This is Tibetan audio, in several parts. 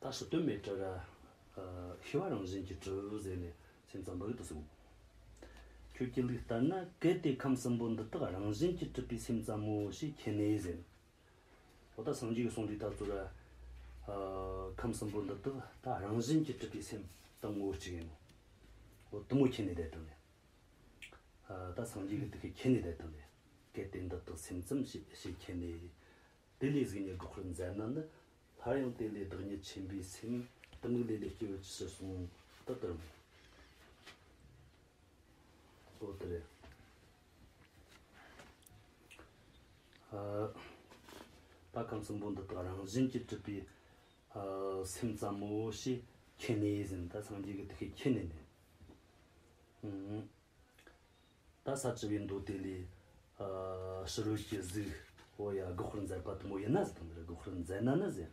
ད་ཞི་དོན་མེད་བྲལ། ཞི་བ་རང་བཞིན་གྱི་གྲོལ་ཟེར་ནས་སེམས་ཙམ་པོ་རིག་ཏུ་གསུངས། ཁྱོད་ཀྱི་ལུགས་ལྟར་ན་གལ་ཏེ་ཁམས་གསུམ་པོ་འདི་དག་རང་བཞིན་གྱིས་གྲུབ་པའི་སེམས་ཙམ་མོ་ཞེས་མཁྱེན་ནས་ཟེར། འོ་ད་སངས་རྒྱས་ཀྱི་གསུང་འདི་ལྟར་རྫོགས། ཁམས་གསུམ་པོ་འདི་དག་ད་རང་བཞིན་གྱིས་གྲུབ་པའི་སེམས་ཙམ་མོ་ཅི་ཡིན། འོ་དུ་མོ་མཁྱེན་ནས་དེ་ལྟར་ནི། ད་སངས་རྒྱས་ཀྱི་དེ་ཁས་མཁྱེན་ནས་དེ་ལྟར་ནི། གལ་ཏེ་འདི་དག་སེམས་ཙམ་ཞེས་མཁྱེན་ནས། དེ་ལས་གཟིགས་ནས་སྒྲོག་ཁུར་མཛད་ན་ནི། སླར་ཡང་བསྟན་ཏེ་བདག་ཉིད་ཆེན་པོའི་སེམས། གཏི་མུག་ལས་འདས་སྐྱེ་བོ་ཇི་སྲིད་གསུང། ཏི་ཏི་རུ། ཨོ་ཏི་རེ། ད་གམ་གསུམ་པོ་འདི་དག་རང་བཞིན་གྱིས་གྲུབ་པའི། སེམས་ཙམ་མོ་ཞེས་ཁྱེད་ནས་ཟིན་ད་སངས་རྒྱས་ཀྱི་ཏི་ཤས་ཁྱེད་ནས་ནི། ད་ས་བྱི་བའི་མདོ་དེ་ལས། ཕྱི་རོལ་གྱི་གཟུགས། འོ་ཡ་དགུ་ཧོར་མཛད་པ་དུ་མོ་ཡིན་ན་ཟེར་དང་འདིར་དགུ་ཧོར་མཛད་ན་ནི་ཟེར།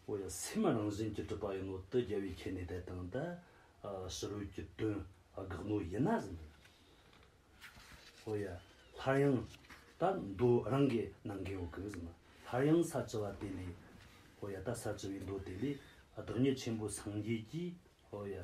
འོ་ཡ་སེམས་རང་བཞིན་གྱིས་གྲུབ་པ་ཡིན་ནོ་དུ་རྒྱལ་བས་ཁྱེད་ནི་དད་དང་དད། ཕྱི་རོལ་གྱི་དོན། དགག་ནོ་ཡིན་ན་ཟེར་འདིར། འོ་ཡ། སླར་ཡང། ད་མདོ་རང་གི་ནང་གི་འོག་གི་ཟེར་ན། སླར་ཡང་ས་བྱི་བ་དེ་ལས། འོ་ཡ་ད་ས་བྱི་བའི་མདོ་དེ་ལས། བདག་ཉིད་ཆེན་པོ་སངས་རྒྱས་ཀྱིས། འོ་ཡ།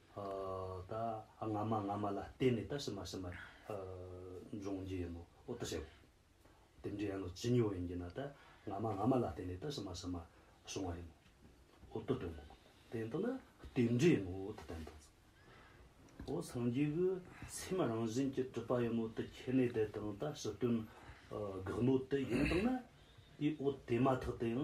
དང། སྔ་མ་སྔ་མ་ལ་བརྟེན་ནས་ད་ཕྱི་མ་ཕྱི་མར་འབྱུང་རྒྱུ་ཡིན་ནོ། འོ་ད་བྱེད་པོ། དེ་འདྲ་ཡིན་ནོ་ཇི་སྙེད་པ་ཡིན་གྱི་ན་ད་སྔ་མ་སྔ་མ་ལ་བརྟེན་ནས་ད་ཕྱི་མ་ཕྱི་མར་བྱུང་བ་ཡིན་ནོ། འོ་ད་དོན་དངོས་པོ་དེ་འདི་ན་དེ་འདྲ་ཡིན་ནོ་ད་དོན་དངོས་པོ། འོ་སངས་རྒྱས་ཀྱི་སེམས་རང་བཞིན་གྱི་གྲུབ་པ་ཡིན་ནོ་ད་ཁྱེད་ནས་དེ་དང་ད་ཕྱི་དོན་དགག་ནོ་དེ་ཡིན་དང་ན། དེའི་འོ་དེ་མ་ཐག་དེའང་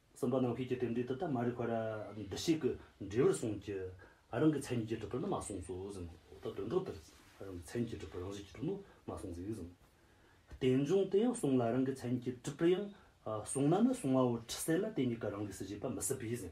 གསུམ་པ་ནམ་མཁའི་རྒྱུད་དེབ་འདིའི་དུ་དང་མ་རིག་བར་འདུ་ཤེས་ཀྱི་འབྲས་བུར་གསུངས་ཀྱི། རང་གི་མཚན་ཉིད་ཀྱི་སྒྲུབ་པོ་ནི་མ་གསུངས་སོ་གཟིགས་མོད། འོག་ཏུ་དོན་གྲོགས་དེར། རང་གི་མཚན་ཉིད་ཀྱི་སྒྲུབ་པོ་རང་བཞིན་གྱི་སྒྲུབ་མོད་མ་གསུངས་གཟིགས་མོད། རྟེན་འབྱུང་དེ་ཡང་གསུངས་ལ་རང་གི་མཚན་ཉིད་ཀྱི་སྒྲུབ་པོ་ཡང་གསུངས་ན་ནི་གསུང་བའོ་ཁྲི་སེ་ན་དེ་གཉིས་ཀ་རང་གིས་སུ་བཞེད་པ་མི་སྲིད་པས།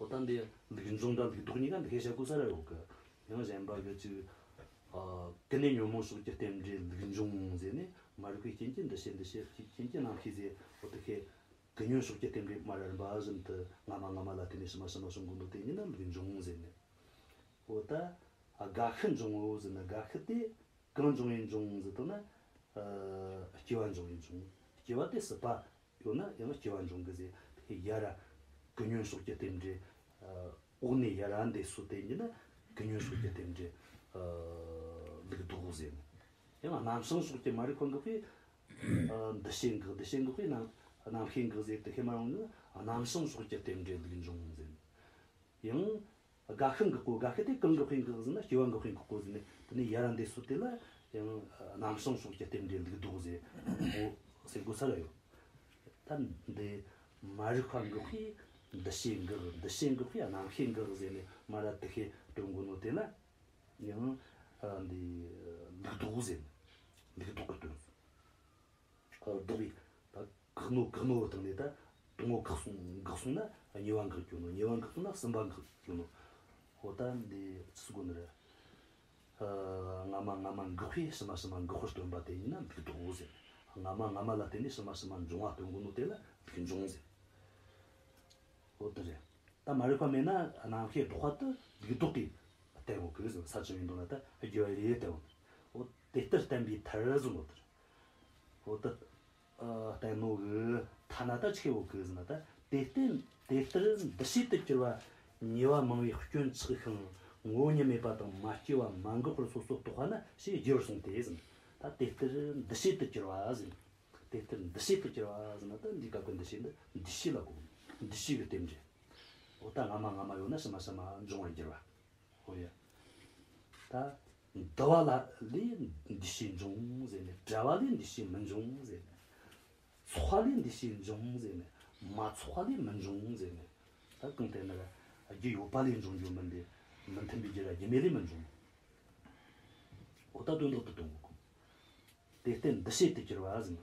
ཨོ་ད་འདི་འདི་གི་འཛུམ་དང་འདི་གི་སྡུག་གཉིས་ཀ་འདི་གས་བྱས་ཀུ་ས་ར་ཡོང་གི། ཡང་གཞན་པ་གི་ཅིག། ཀི་ནས་ཉོན་མོངས་ཟུག་བསྐྱེད་རྟེན་འབྲེལ་ལུས་འབྱུང་ཟེར་ནས་མ་རིག་པའི་རྐྱེན་གྱིས་འདི་བྱེད་འདི་བྱེད་ཀྱི་རྐྱེན་གྱིས་ནང་ཤི་ཟེར་ཨོ་ད་གས། ཀི་ཉོན་ཟུག་བསྐྱེད་རྟེན་འབྲེལ་སྨྲ་རར་འབའ་བཞིན་དུ་སྔ་མ་སྔ་མ་ལ་བརྟེན་ནས་ཕྱི་མ་ཕྱི་མ་སོགས་འགོ་འདོགས་དེ་ཉིད་ན་ལུས་འབྱུང་ཟེར་ནས། ཨོ་ད། དགའ་ཤི་འབྱུང་ངོ་ཟེར་ན་དགའ་ཤི་སྟེ། གང་འབྱུང་བའི་འབྱུང་ཟེར་དོ་ན། སྐྱེ་བ་འབྱུང་བའི་འབྱུང། སྐྱེ་བ་སྟེ་སྲིད་པ། ཡོད་ན་ཡང་སྐྱེ་བ་འབྱུང་གི་ཟེར། དེ་ཡ་ར། ཀུན་ཉོན་སོགས་ཀྱི་རྟེན་འབྲེལ། འོག་ནས་ཡ་ར་འདས་གསོ་བསྟན་གྱི་ན། ཀུན་ཉོན་སོགས་ཀྱི་རྟེན་འབྲེལ། ལུགས་འདུག་ཟེར་ནས། ཡང་ན་ནམ་སང་སོགས་ཀྱི་མ་རིག་པ་འགགས་པས། འདུ་ཤེས་འགགས་འདུ་ཤེས་འགགས་པས་ནམ། ནམ་མཁའི་འགགས་ཟེར་དེ་ཁས་མ་རུང་ན། ནམ་སང་སོགས་ཀྱི་རྟེན་འབྲེལ་ལུགས་འབྱུང་ཟེར། ཡང། སྒ་ཤང་གི་སྐོར་སྒ་ཤི་དེ་གང་གི་དཔེ་འགག་ཟིན་ན་སྐྱེ་བ་འགག་མཁན་གྱི་སྐོར་ཟིན་ནས་དེ་ནས་ཡར་འདས་སུ་དེ་ལ་ཡང་རྣམ་སྲང་སོགས་ཀྱི་རྟེན་འབྲེལ་འདུག་འདུག་ཟེར་མོ་སེ་གོ་ས་ལ་ཡོད། ད་འདི་མ་རིག་པ་འགག་པས་འདི་ཤེས་འགག་འདི་ཤེས་འགག་པས་རྣམ་ཤེས་འགག་ཟེར་ནས་མ་ར་དི་ཤེས་སྤྲོད་འགོ་ནོ་དེ་ལ་ཡང་འདི་འདུག་འདུག་ཟེར་འདུག་འདུག་གི་དོན་སོ། འདུག་པས་ད། འགག་ནོ་འགག་ནོ་བ་དང་ནི་ད་དུང་ངོ་འགག་སོང་འགག་སོང་ན་ཉེ་བ་འགག་གྱུར་ནོ་ཉེ་བ་འགག་ཏུ་ན་སེམས་པ་འགག་གྱུར་ནོ། ཧོ་ད་འདི་ཅི་སུ་དགོས་ན་རེ། སྔ་མ་སྔ་མ་འགག་པས་ཕྱི་མ་ཕྱི་མ་འགག་པར་སྟོན་པ་དེ་ཉིད་ན་འབིགས་འགྲོའོ་ཟེར། སྔ་མ་སྔ་མ་ལ་བརྟེན་ནས་ཕྱི་མ་ཕྱི་མ་འབྱུང་བ་སྟོན་དགོས་ནོ་དེ་ལ་འབིགས་འབྱུང་ཟེར། ཧོ་ད་རེ། ད་མ་རིག་པ་མེད་ན་ནམ་མཁའི་ལྡོག་པ་དུ་འབིགས་ལྡོག་གིས་བསྟན་དགོས་གི་ཟེར་ས་ཅི་ཡིན་དུ་ན་ད་རྒྱུ་བ་རེ་རེ་བསྟན་དགོས། ཧོ་དེ་ལྟར་བསྟན་པའི་མཐར་ཟིན་ནོ་དེར། ཧོ་ད། ལྟད་མོ་འོས་ཐ་ན་ད་ཆེ་བོ་གིས་ན་ད་དེ་བརྟེན་དེ་ལྟར་འདུ་བྱེད་དུ་གྱུར་པ་ཉེ་བ་མང་བའི་སྐྱོན་ཆགས་ཤིང་མགོ་ཉེན་མེད་པ་དང་མ་སྐྱེས་པ་མ་འགགས་པར་སོ་སོར་རྟོགས་པ་ན་ཞེས་རྒྱས་པར་གསུངས་ཏེ། ད་དེ་ལྟར་འདུ་བྱེད་དུ་གྱུར་པ། དེ་ལྟར་འདུ་བྱེད་དུ་གྱུར་པ་ན་ད་འདིའི་སྐབས་ཀྱི་འདུ་བྱེད་འདི་འདུ་བྱེད་ལ་གོ་འདུ་བྱེད་ཀྱི་རྟེན་འབྲེལ། འོ་ད་སྔ་མ་སྔ་མ་ཡོད་ན་ཕྱི་མ་ཕྱི་མ་འབྱུང་བར་འགྱུར་བ། ཧོ་ཡ། ད། འདུ་བ་ལ་ལས་འདུ་ཤེས་འབྱུང་ཟེར་ནས་བྲལ་བ་ལས་འདུ་ཤེས་མི་འབྱུང་ཟེར་ནས། ཚོགས་པ་ལས་འདུ་ཤེས་འབྱུང་ཟེར་ནས། མ་ཚོགས་པ་ལས་མི་འབྱུང་ཟེར་ནས། ད་གང་ལྟར་ན། རྒྱུ་ཡོད་པ་ལས་འབྱུང་རྒྱུ་མིན་པས། མི་མཐུན་པའི་རྒྱུ་ལ་རྒྱུ་མེད་ལས་མི་འབྱུང། ཨོ་ད་དོན་ཐོག་ཏུ་གཏོང་དགོས། དེ་ལྟའི་འདུ་ཤེས་དེ་གྱུར་པ་ཟིན་པ།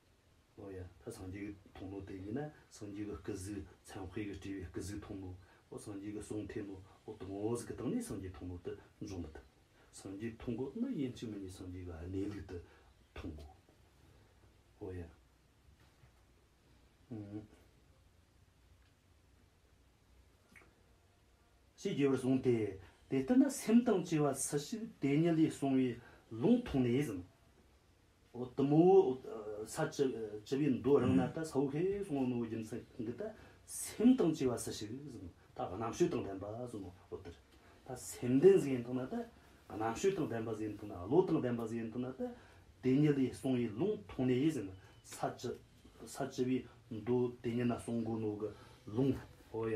ལོ་ཡང་ད་སངས་རྒྱས་ཀྱི་དུང་ནོ་དེ་ཉིད་ན་སངས་རྒྱས་ཀྱི་སྐུ་གཟུགས་ཚངས་དཔེ་གྱི་སྤྲས་པའི་སྐུ་གཟུགས་དུང་ནོ་འོ་སངས་རྒྱས་ཀྱི་གསུང་འཐད་ནོ་འོ་དུང་ངོ་ཟིག་གི་སྟེང་ནས་སངས་རྒྱས་དུང་ནོ་དུ་འབྱུང་མི་ཐུབ། སངས་རྒྱས་དུང་གོ་ནི་ཡིན་གཅིག་མི་གཉིས་སངས་རྒྱས་ཀྱི་གནས་ལུགས་དུ་མཐོང་ངོ། འོ་ཡང། ཞེས་རྒྱས་པར་གསུངས་ཏེ། དེ་ལྟར་ན་སེམས་དང་བཅས་པ་སུ་ཞིག་དེ་ཉིད་ལས་གསུངས་པའི་ལུང་མཐོང་ནས་ཟིན། འོ་དུམ་བུ་ས་བཅུ་བཅུ་བའི་མདོ་རང་ན་ད་ས་བོ་ཧེ་སོང་ངོ་ནོ་བོ་རྒྱུ་མཚན་གི་ད་སེམས་དང་བཅས་པ་སུ་ཞིག་གཟིགས་ནོ་ད་རྣམ་ཤེས་དང་ལྡན་པ་གཟིགས་ནོ་འོ་དེར་ད་སེམས་ལྡན་གཟིགས་ཡིན་དུ་ན་ད་རྣམ་ཤེས་དང་ལྡན་པ་གཟིགས་ཡིན་དུ་ན་བློ་དང་ལྡན་པ་གཟིགས་ཡིན་དུ་ན་ད་དེ་ཉིད་ལས་སོང་ཡི་ལུང་མཐོང་ནས་ཡིས་ཟིན་ས་བཅུ་ས་བཅུ་བའི་མདོ་དེ་ཉིད་ན་སོང་གོ་ནོ་གི་ལུང་འོ་ཡ།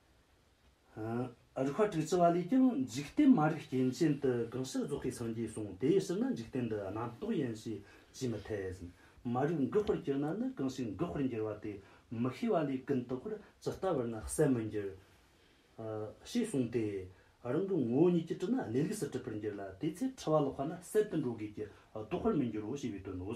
རུ་ཁ་དྲུག་ཅུ་བ་ལས་ཀྱང་འཇིག་རྟེན་མ་རིག་རྐྱེན་ཅན་དུ་གང་ཕྱིར་རྫོགས་ཤིང་སངས་རྒྱས་གསུང་དེའི་ཕྱིར་ན་འཇིག་རྟེན་འདི་རྣམ་རྟོག་ཡིན་ཞེས་བྱས་མི་འཐད། མ་རིག་མགུ་བར་གྱུར་ན་ནི་གང་ཞིག་མགུ་བར་འགྱུར་བ་དེ་མི་ཤེས་པ་ལས་ཀུན་རྟོག་པར་ཇི་ལྟ་བར་ན་གསལ་མི་འགྱུར། ཞེས་གསུངས་ཏེ། རང་གི་ངོ་བོ་ཉིད་ཀྱིས་དྲིས་ན་གནས་ལུགས་སུ་དྲིས་པར་འགྱུར་ལ་དེའི་ཚེ་འཁྲུལ་བ་ལོག་པ་ན་གསལ་དུ་འགྲོ་དགོས་ཀྱི་རྟོགས་པར་མི་འགྱུར་རོ་ཞེས་པའི་དོན་ནོ།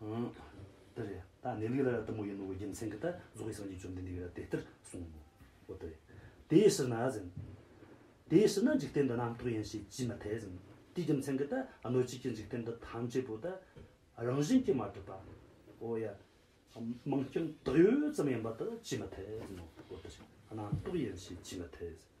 ཏེ། འདི་རེད་ད་ནི་ལུས་ལ་ར་ལྟ་མོ་ཡིན་ནོ་འི་རྒྱུ་མཚན་གྱིས་ད་གཟུགས་ཀྱི་སངས་རྒྱས་བཅོམ་ལྡན་འདས་ཀྱིས་ར་དེ་ལྟར་གསུངས་མོ། འོ་ཏེ། དེའི་ཕྱིར་ན་ཟིན། དེའི་ཕྱིར་ན་འཇིག་རྟེན་འདི་རྣམ་རྟོག་ཡིན་ཞེས་བགྱི་མི་འཐད་ཟིན། དེའི་རྒྱུ་མཚན་གྱིས་ད་གནོད་བྱེད་ཀྱི་འཇིག་རྟེན་འདི་ཐམས་ཅད་པོ་ད་རང་བཞིན་གྱིས་མ་གྲུབ་པ། འོ་ཡ། མིང་སྐྱོན་དག་ཡོད་ཙམ་ཡིན་པ་ད་བགྱི་མི་འཐད་ཟིན་ནོ། འོ་ཏེ། རྣམ་རྟོག་ཡིན་ཞེས་བགྱི་མི་འཐད་ཟིན།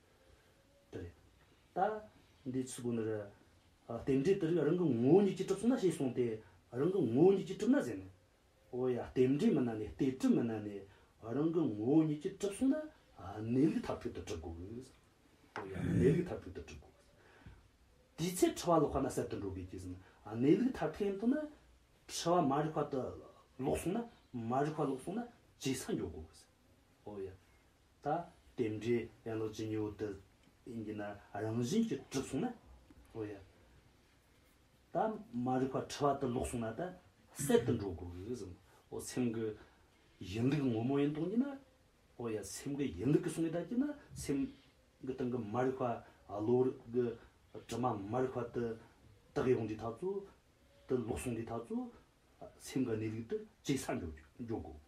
དེ་རེད། ད་འདི་ཚོའི་སྒོ་ནས་རེད། རྟེན་འབྲེལ་དེ་རིགས་རང་གི་ངོ་བོ་ཉིད་ཀྱིས་གྲུབ་ཚུལ་ན་ཞེས་གསུངས་ཏེ། རང་གི་ངོ་བོ་ཉིད་ཀྱིས་གྲུབ་ན་ཟེར་ནས། འོ་ཡ་རྟེན་འབྲེལ་མིན་ན་ནི་སྟེ་གྲུབ་མིན་ན་ནི། རང་གི་ངོ་བོ་ཉིད་ཀྱིས་གྲུབ་གསུངས་ན། གནས་ལུགས་མཐར་ཐུག་ཏུ་གྲུབ་དགོས། འོ་ཡ་གནས་ལུགས་མཐར་ཐུག་ཏུ་གྲུབ་དགོས། དེའི་ཚེ་འཁྲུལ་བ་ལོག་པ་ན་གསལ་དུ་འགྲོ་དགོས་ཀྱི། གནས་ལུགས་མཐར་ཐུག་ཡིན་དུ་ན། འཁྲུལ་བ་མ་རིག་པ་དུ་ལོག་གསུངས་ན། མ་རིག་པ་ལོག་གསུངས་ན། ཇི་སྲང་འཇོག་དགོས། འོ་ཡ། ད་རྟེན་འབྲེལ་ཡང་ལོ་ཇི་སྙེད་དུ་ཡིན་གྱི་ན་རང་བཞིན་གྱིས་གྲུབ་སོང་ན་ཨོ་ཡ། ད་མ་རིག་པ་ཁྲི་བ་དུ་ལོག་སོང་ན་ད་གསེར་དུ་འགྲོ་དགོས་སམ་ཨོ་སེམས་ཀྱི་ཡིན་ལུགས་ངོ་མ་ཡིན་སྟོང་གྱི་ན་ཨོ་ཡ་སེམས་ཀྱི་ཡིན་ལུགས་ཀྱི་སོང་གི་ད་གྱི་ན་སེམས་ཀྱི་སྟེང་གི་མ་རིག་པ་ལོ་རིག་གི་དྲི་མ་མ་རིག་པ་དུ་དག་ཡོང་དུས་ད་ཚོ་དུ་ལོག་སོང་གི་ད་ཚོ་སེམས་ཀྱི་གནས་ལུགས་དུ་གཅིག་ས་འཇོག་དགོས།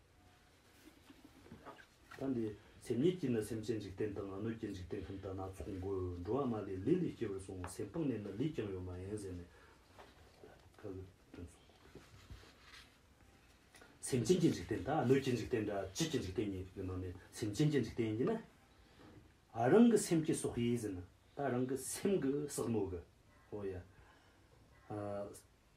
ད་འདི་སེམས་ཉིད་ཀྱིས་ནི་སེམས་ཅན་འཇིག་རྟེན་དང་སྣོད་ཀྱི་འཇིག་རྟེན་ཁམས་དག་སྣ་ཚོགས་འགོད། འགྲོ་བ་མ་ལས་ལས་ལས་སྐྱེ་བར་གསུངས། སེམས་སྤངས་ནས་ནི་ལུས་ཀྱང་ཡོད་མ་ཡིན་ཟེར་ནས། ཁ་ལུད་དོན་གསུངས། སེམས་ཅན་གྱི་འཇིག་རྟེན་དང་སྣོད་ཀྱི་འཇིག་རྟེན་འདྲ་གཅིག་གི་འཇིག་རྟེན་ཉིད་ཡོད་མ་མེད་སེམས་ཅན་གྱི་འཇིག་རྟེན་ཡིན་ན། རང་གི་སེམས་ཀྱི་སྲོག་ཡིན་ཟེར་ན། ད་རང་གི་སེམས་ཀྱི་ཟག་མོད་ཀྱི། ཨོ་ཡ།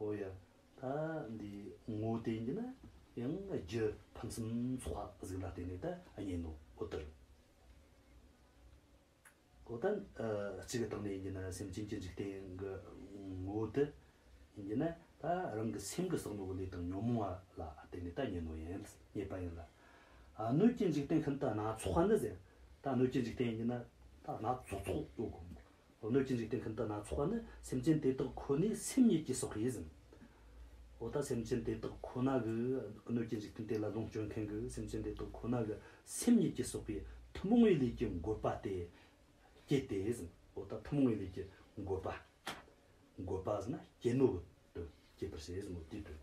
ཨོ་ཡ། ད་འདི་ངོ་བསྟན་རྒྱུ་ན་ཡང་རྒྱུ་ཕམ་སེམས་ཚོགས་ལྷག་གཟིགས་ལ་བརྟེན་ནས་ད་རྙེད་ནོ་ཨོ་ཏི། ཨོ་ད་གཅིག་གི་སྟེང་ནས་ཡིན་རྒྱུ་ན་སེམས་ཅན་གྱི་འཇིག་རྟེན་གྱི་ངོ་བོ་དེ་ཡིན་རྒྱུ་ན་ད་རང་གི་སེམས་ཀྱི་བསགས་ནོར་བུ་ལས་དང་ཉོན་མོངས་བ་ལ་བརྟེན་ནས་ད་རྙེད་ནོ་ཡང་རྙེད་པ་ཡིན་ལ། སྣོད་ཀྱི་འཇིག་རྟེན་ཁམས་ད་སྣ་ཚོགས་ནི་ཟེར། ད་སྣོད་ཀྱི་འཇིག་རྟེན་ཡིན་རྒྱུ་ན་ད་སྣ་ཚོགས་ཚོགས་ཡོད་དགོས། གནོད་སྦྱིན་རིགས་ལྡན་ཁྱིམ་བདག་སྣ་ཚོགས་ནི་སེམས་ཅན་དེ་དག་ཁོ་ནའི་སེམས་ཉིད་ཀྱིས་སོགས་ཡིན། འོ་ད་སེམས་ཅན་དེ་དག་ཁོ་ན་གི་གནོད་སྦྱིན་རིགས་ལྡན་དེ་ལ་ལོངས་སྤྱོད་མཁན་གྱི་སེམས་ཅན་དེ་དག་ཁོ་ན་གི་སེམས་ཉིད་ཀྱིས་སོགས་པའི་ཐུན་མོང་བའི་ལས་ཀྱི་འགོད་པ་སྟེ། སྐྱེད་དེ། འོ་ད་ཐུན་མོང་བའི་ལས་ཀྱི་འགོད་པ། འགོད་པ་ཟེར་ན་སྐྱེད་མོས་དོན་སྐྱེད་པར་བྱེད། སྐྱེད་དོན།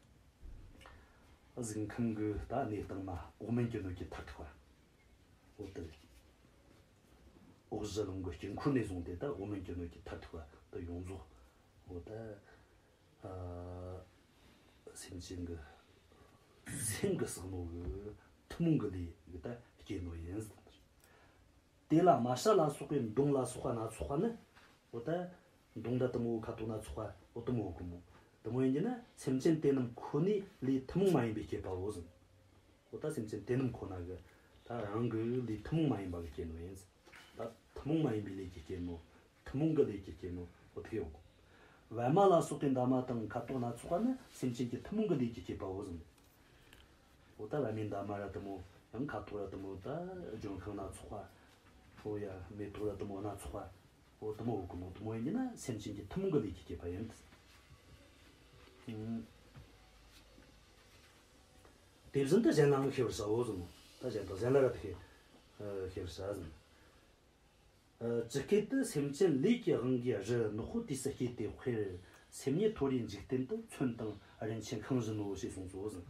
གཟིགས་མཁན་གྱི་ད་གནས་སྟངས་ན་ཨོ་མན་གྱི་ནུས་ཀྱི་མཐར་ཐུག་པ། འོ་དེ། ཨོ་གཟི་ལུང་གི་དཀྱིལ་འཁོར་ནས་བཟུང་སྟེ་ད་ཨོ་མན་གྱི་ནུས་ཀྱི་མཐར་ཐུག་པ་དེ་ཡོངས་རྫོགས་འོ་དེ། སེམས་ཅན་གྱི། སེམས་ཀྱི་བསམ་བློ་གྱི་ཐུན་མོང་གི་ལས་ཀྱི་ད་སྐྱེ་དངོས་ཡིན། དེ་ལ་མ་ཤ་ལ་སོགས་པའི་མདུང་ལ་སོགས་པ་སྣ་ཚོགས་པ་ནི་འོ་དེ། མདུང་དང་གཏུམ་འོག་ཁ་དོག་སྣ་ཚོགས་པ་འོ། གཏུམ་འོག་གི་མོ། གཏུམ་འོད་ཉིད་ན་སེམས་ཅན་དེ་རྣམས་ཁོ་ནའི་ལུས་ཐུན་མོང་མ་ཡིན་པས་བསྐྱེད་པའོ། གཟིམས་འོ་ད་སེམས་ཅན་དེ་རྣམས་ཁོ་ན་གི། ད་རང་གི་ལུས་ཐུན་མོང་མ་ཡིན་པ་གི་རྐྱེན་ནོ། ཡིན། ད་ཐུན་མོང་མ་ཡིན་པའི་ལས་ཀྱི་རྐྱེན་ནོ། ཐུན་མོང་གི་ལས་ཀྱི་རྐྱེན་ནོ། འོ་དྷི་འོག། བལ་མ་ལ་སོགས་པའི་འདབ་མ་དང་ཁ་དོག་སྣ་ཚོགས་པ་ནི་སེམས་ཅན་གྱི་ཐུན་མོང་གི་ལུས་ཀྱི་བསྐྱེད་པའོ། གཟིམས་འོ་ད་བལ་མའི་འདབ་མ་ར་གཏུམ་འོ། ཡང་ཁ་དོག་ར་གཏུམ་འོ། ད་ལྗོན་ཤིང་སྣ་ཚོགས་པ་འོ། ཡང་མེ་ཏོག་ར་གཏུམ་འོ་སྣ་ཚོགས་པ། འོ་དུམ་བོ་འོ་དགུམ་འོ་དུམ་བོ་ཡིན་ན་སེམས་ཅན་གྱི་ཐུན་མོང་གི་ལས་ཀྱིས་བསྐྱེད་པ་ཡིན། དེ་བཞིན་དུ་གཞན་ལའང་ཤེས་པར་བྱའོ་གསུངས། ད་གཞན་དང་གཞན་ལ་རབ་ཏུ་ཤེས་པར་བྱ་ཞིང། ཇི་སྐད་དུ་སེམས་ཅན་ལས་ཀྱི་དབང་གིས་རི་ནག་པོ་དུས་སུ་སྐྱེས་ཏེ་དཔེར་སེམས་ཉིད་མཐོ་རིའི་འཇིག་རྟེན་དུ་ཚོན་དང་རིན་ཆེན་ཁང་བཞིན་ནོ་ཞེས་གསུངས་སོ་གསུངས།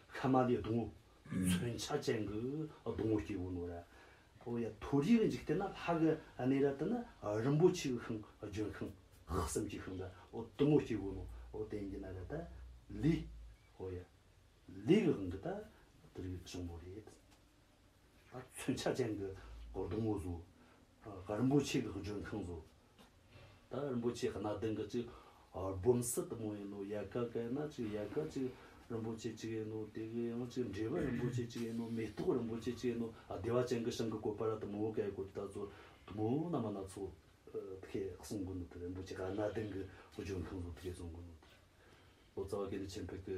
ཁ་མ་ལའི་སྡོང་བུ། མཚོན་ཆ་ཅན་གྱི་སྡོང་བུ་སྐྱེས་བུ་ནོ་ར། ཨོ་ཡ། དུར་གྱི་འཇིག་རྟེན་ན་ལྷ་གི་གནས་ར་དེ་ནི་རིན་པོ་ཆེའི་ཤིང་ལྗོན་ཤིང། གསུམ་གྱི་ཤིང་ར་ཨོ་དུ་མོ་སྐྱེས་བུ་ནོ་ཨོ་དེ་འདི་ན་ར་ད། ལི། ཨོ་ཡ། ལི་གི་དབང་གིས་ད་དུར་གྱི་ཤིང་མོ་རེད། མཚོན་ཆ་ཅན་གྱི་སྒོར་དུམ་བུ་བཟོ། ད་རིན་པོ་ཆེ་གི་ལྗོན་ཁང་བཟོ། ད་རིན་པོ་ཆེ་གནའ་དེང་གི་ཅིག་སྦོམ་སི་ཏི་མོ་ཡིན་ནོ་ཡལ་ག་ག་ཡིན་ན་ཅིག་ཡལ་ག་ཅིག་རིན་པོ་ཆེ་ཅིག་ཡིན་ནོ་དེ་གི་ཡང་ཅིག་འབྲས་བུ་རིན་པོ་ཆེ་ཅིག་ཡིན་ནོ་མེ་ཏོག་རིན་པོ་ཆེ་ཅིག་ཡིན་ནོ་བདེ་བ་ཅན་གྱི་ཤིང་གི་བཀོད་པ་ར་དུམ་བུ་ག་ཡི་བཀོད་དུ་ད་ཚོ་དུམ་བུ་ན་མ་ན་ཚོ་ད་གེ་གསུང་དགོས་ནོ་ད་རིན་པོ་ཆེ་ག་གནའ་དེང་གི་ལྗོན་ཁང་བཟོ་ད་གེ་གསུང་དགོས་ནོ་ད་ལོ་ཙཱ་བ་གེ་འདི་ཆེན་པོ་གི་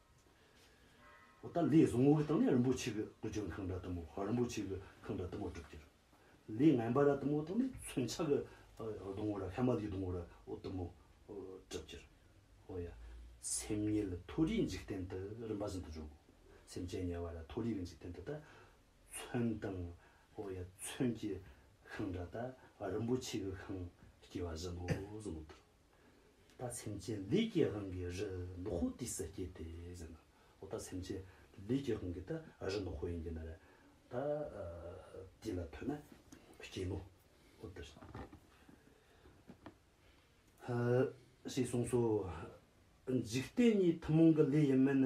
ཧོ། ད་ལས་བཟང་ངོ་གི་སྟེང་ནས་རིན་པོ་ཆེ་གི་སྐུ་ཅོན་ཁང་གྲ་དུ་མོ་ཧོ་རིན་པོ་ཆེ་གི་ཁང་གྲ་དུ་མོ་གྲུབ་ཀྱི། ལས་ངན་པ་ར་དུ་མོ་སྟེང་ནས་མཚོན་ཆ་གི་སྡོང་བོ་ར་ཧེ་མ་ལིའི་སྡོང་བོ་ར་ཨོ་དུ་མོ་གྲུབ་ཀྱི། ཧོ་ཡ། སེམས་ཉིད་ལ་མཐོ་རིས་འཇིག་རྟེན་དུ་རིམ་པ་བཞིན་དུ་འཇོག་གོ། སེམས་ཅན་དམྱལ་བ་ར་མཐོ་རིས་ཀྱི་འཇིག་རྟེན་དུ་ད་མཚོན་དང། ཧོ་ཡ། མཚོན་གྱི་ཁང་གྲ་ད་རིན་པོ་ཆེ་གི་ཁང་སྐྱེ་བ་བཞིན་ནོ་གསུངས་པ་དང། ད་སེམས་ཅན་ལས་སྐྱེས་དབང་གིས་རི་ནག་ཧོ་ཏི་སེ་སྐྱེས་ཏེ་ཟེར་ན། འོ་ད་སེམས་ཅན་ལས་སྐྱེས་དབང་གིས་ད་རི་ནག་ཧོ་ཡིན་གྱི་ན་རེ། ད་དེ་ལ་ཐོས་ན་སྐྱེས་ནོ། ཨོ་ཏི་རི་ནག་ཧོ། ཞེས་གསུངས་སོ། འཇིག་རྟེན་གཉིས་ཐུན་མོང་གི་ལས་ཡིན་མིན།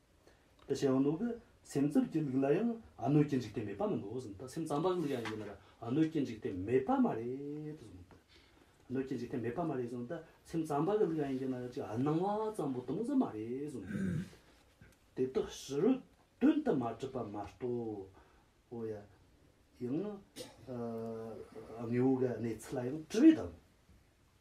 ཏི་ཤའི་ཨ་ནུ་གི་སེམས་རྩུབ་ཀྱི་ལུགས་ལ་ཡང་ཨ་ནུའི་སྐྱེ་འཇིག་རྟེན་མེད་པ་མིན་ནོ་གསུངས་ཏེ་སེམས་རྩམ་པ་གི་ལུགས་ཡང་ཡིན་ན་ཨ་ནུའི་སྐྱེ་འཇིག་རྟེན་མེད་པ་མ་རེད་དུ་གསུངས་ཏེ། ཨ་ནུའི་སྐྱེ་འཇིག་རྟེན་མེད་པ་མ་རེད་གསུངས་ཏེ་སེམས་རྩམ་པ་གི་ལུགས་ཡང་ཡིན་ན་ཅིག་ཨ་སྣང་བ་ཙམ་པོ་སྟོང་ཟད་མ་རེད་གསུངས་ཏེ། དེ་དག་ཕྱི་རོལ་དོན་དུ་མ་གྲུབ་པ་མ་གཏོགས་པོ་ཡང་དངོས་པོ་གི་གནས་ཚུལ་ལ་ཡང་དྲི་བའི་དོན།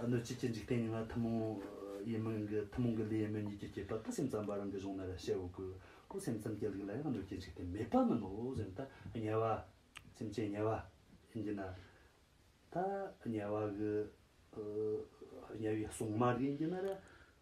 གནོད་བྱེད་ཀྱི་འཇིག་རྟེན་ཡིན་ལ་ཐུན་མོང་ཡིན་མིན་གྱི་ཐུན་མོང་གི་ལུས་ཡིན་མིན་གཉིས་ཀྱི་བསྐྱེད་པ་ཏུ་སེམས་ཙམ་པ་རང་གི་གཞུང་ན་རེ་བཤད་འོས་ཀྱི་སྐུ་སེམས་ཙམ་གྱི་ལུགས་ལ་ཡང་གནོད་བྱེད་འཇིག་རྟེན་མེད་པ་མིན་ནོ་ཟེར་ན་ད་ཉལ་བ། སེམས་ཅན་ཉལ་བ། ཡིན་གྱི་ན། ད་ཉལ་བ་གི། ཉལ་བའི་གཟུངས་མ་རྒྱུན་གྱི་ན་རེ།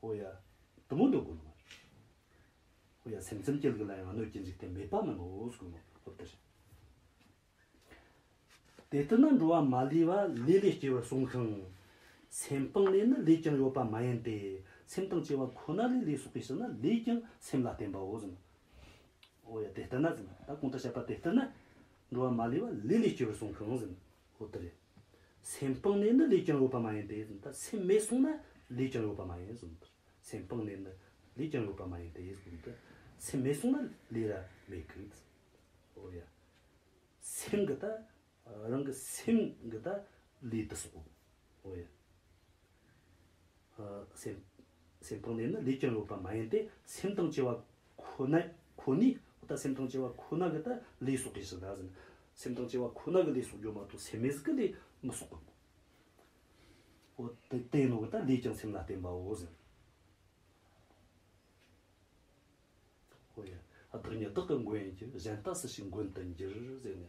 ཧོ་ཡ། དུམ་བུ་འདོགས་དགོས་མོད། ཧོ་ཡ་སེམས་ཙམ་སྐྱེལ་དགོས་ལ་ཡང་གནོད་སྐྱེལ་འཇིག་རྟེན་མེད་པ་རྣམས་འོ་ཟོ་དགོས་མོད་ཧོ་དེར། དེ་ལྟར་ན་འགྲོ་བ་མ་ལུས་པ་ལས་ལས་སྐྱེ་བར་གསུངས་ཀྱང། སེམས་སྤངས་ནས་ནི་ལུས་ཀྱང་ཡོད་པ་མ་ཡིན་ཏེ། སེམས་དང་སྐྱེ་བ་ཁོ་ན་ལས་ལུས་སོགས་པས་ཞིག་ན་ལུས་ཀྱང་སེམས་ལ་བརྟེན་པའོ་ཟེར་ན། ཧོ་ཡ་དེ་ལྟར་ན་ཟེར་ན། ད་གོང་ལྟར་བཤད་པ་དེ་ལྟར་ན། འགྲོ་བ་མ་ལུས་པ་ལས་ལས་སྐྱེ་བར་གསུངས་ཀྱང་ཟེར་ན། ཧོ་དེ་རེད། སེམས་སྤངས་ནས་ནི་ལུས་ཀྱང་ཡོད་པ་མ་ཡིན་ཏེ། སེམས་མེད་གསུངས་ན་ལུས་ཀྱང་ཡོད་པ་མ་ཡིན། སེམས་སྤངས་ནས་ནི་ལུས་ཀྱང་ཡོད་པ་མ་ཡིན་ཏེ། སེམས་མེད་གསུངས་ན་ལུས་ར་མེད་ཀི། ཨོ་ཡ། སེམས་ཀྱི་ད་རང་གི་སེམས་ཀྱི་ད་ལུས་ཏི་སོགས། ཨོ་ཡ། སེམས་སྟོང་ནས་ནི་ལས་ཀྱང་ཡོད་པ་མ་ཡིན་ཏེ་སེམས་དང་བཅས་པ་ཁོ་ནའི་ཁོ་ནའི་ད་སེམས་དང་བཅས་པ་ཁོ་ན་གི་ད་ལས་སོགས་རེ་ཞིག་ད་ཟེར་ན་སེམས་དང་བཅས་པ་ཁོ་ན་གི་ལས་སོགས་ཡོད་མ་གཏོགས་སེམས་མེད་ཀྱི་ལས་མི་སོགས་པའོ། འོ་དེ་བསྟན་ནོ་གི་ད་ལས་ཀྱང་སེམས་ལ་བརྟེན་པའོ་ཟེར། འོ་ཡ། བདག་ཉིད་བདག་གི་མགོན་ཡིན་གྱི་གཞན་ལྟ་སུ་ཞིག་མགོན་དུ་འགྱུར་ཟེར་ནས།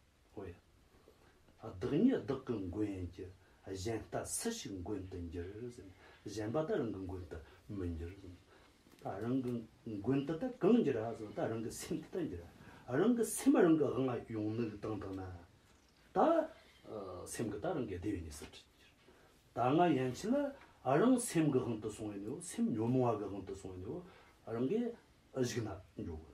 བས། བདག་ཉིད་བདག་གི་མགོན་གྱི་གཞན་ལྟ་སུ་ཞིག་མགོན་དུ་འགྱུར། གཞན་པ་དག་རང་གི་མགོན་དུ་མི་འགྱུར། རང་གི་མགོན་དུ་དག་གང་འགྱུར་བ། རང་གི་སེམས་དུ་དག་འགྱུར་བ། རང་གི་སེམས་རང་གི་དབང་ཡོང་ནུས་ཀྱི་སྟངས་དག་ན། ད་སེམས་ཀྱི་དག་རང་གི་བདེ་བའི་གནས་སུ་འགྱུར། ད་ང་ཡན་ཆད་ལ་རང་སེམས་ཀྱི་དབང་དུ་སོང་བས་ནི་སེམས་ཉོན་མོངས་བ་གྱི་དབང་དུ་སོང་བས་ནི་རང་གི་གཞུག་ན་འགྲོ།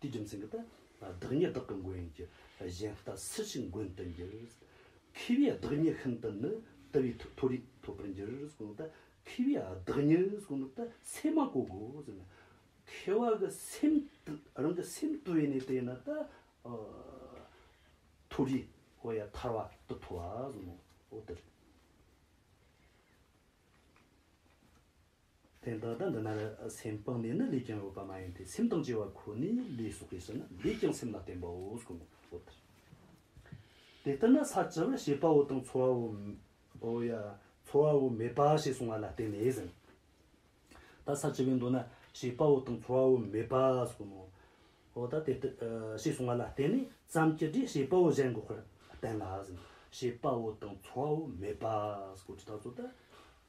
དེའི་རྒྱུ་མཚན་གྱིས་ཏེ། བདག་ཉིད་བདག་གི་མགོན་ཡིན་གྱི། གཞན་ལྟ་སུ་ཞིག་མགོན་དུ་འགྱུར། མཁས་པའི་བདག་ཉིད་ཤིན་ཏུ་ནི། དེ་བས་མཐོ་རིས་ཐོབ་པར་འགྱུར། མཁས་པའི་བདག་ཉིད་སེམས་མ་གོ་གོ། མཁས་པ་གི་སེམས་རང་གི་སེམས་དུལ་བས་ནི་དེ་ནི་ཏེ། མཐོ་རིས་འོ་ཡ་ཐར་བ་དུ་མཐོ་བ། དེ་འདི་དང་འདི་ན་རེ་སེམས་སྤངས་ནས་ནི་ལུས་ཀྱང་རོལ་པ་མ་ཡིན་ཏེ་སེམས་དང་བཅས་པ་ཁོ་ནས་ལུས་སོགས་ཀྱིས་ཟིན་ན་ལུས་ཀྱང་སེམས་ལ་བརྟེན་པའོ་སྐུ་ངོ་བོ་དེར་དེ་ལྟར་ན་ས་བཅུ་པར་ཤེས་པའོ་དང་ཚོར་བའོ། ཚོར་བའོ་མེད་པ་ཞེས་གསུང་བ་ལ་བརྟེན་ནས་ཟིན་ད་ས་བཅུ་པའི་མདོ་ན་ཤེས་པའོ་དང་ཚོར་བའོ་མེད་པ་སོགས་ནོ། ད་དེ་ལྟར་ཞེས་གསུང་བ་ལ་བརྟེན་ནས་བརྩམས་ཀྱི་སྒྲས་ཤེས་པའོ་གཞན་འགོག་པར་བསྟན་ལ་ཟིན་ཤེས་པའོ་དང་ཚོར་བའོ་མེད་པ་སྐུ་དྲི་ད་གཟོད་དེ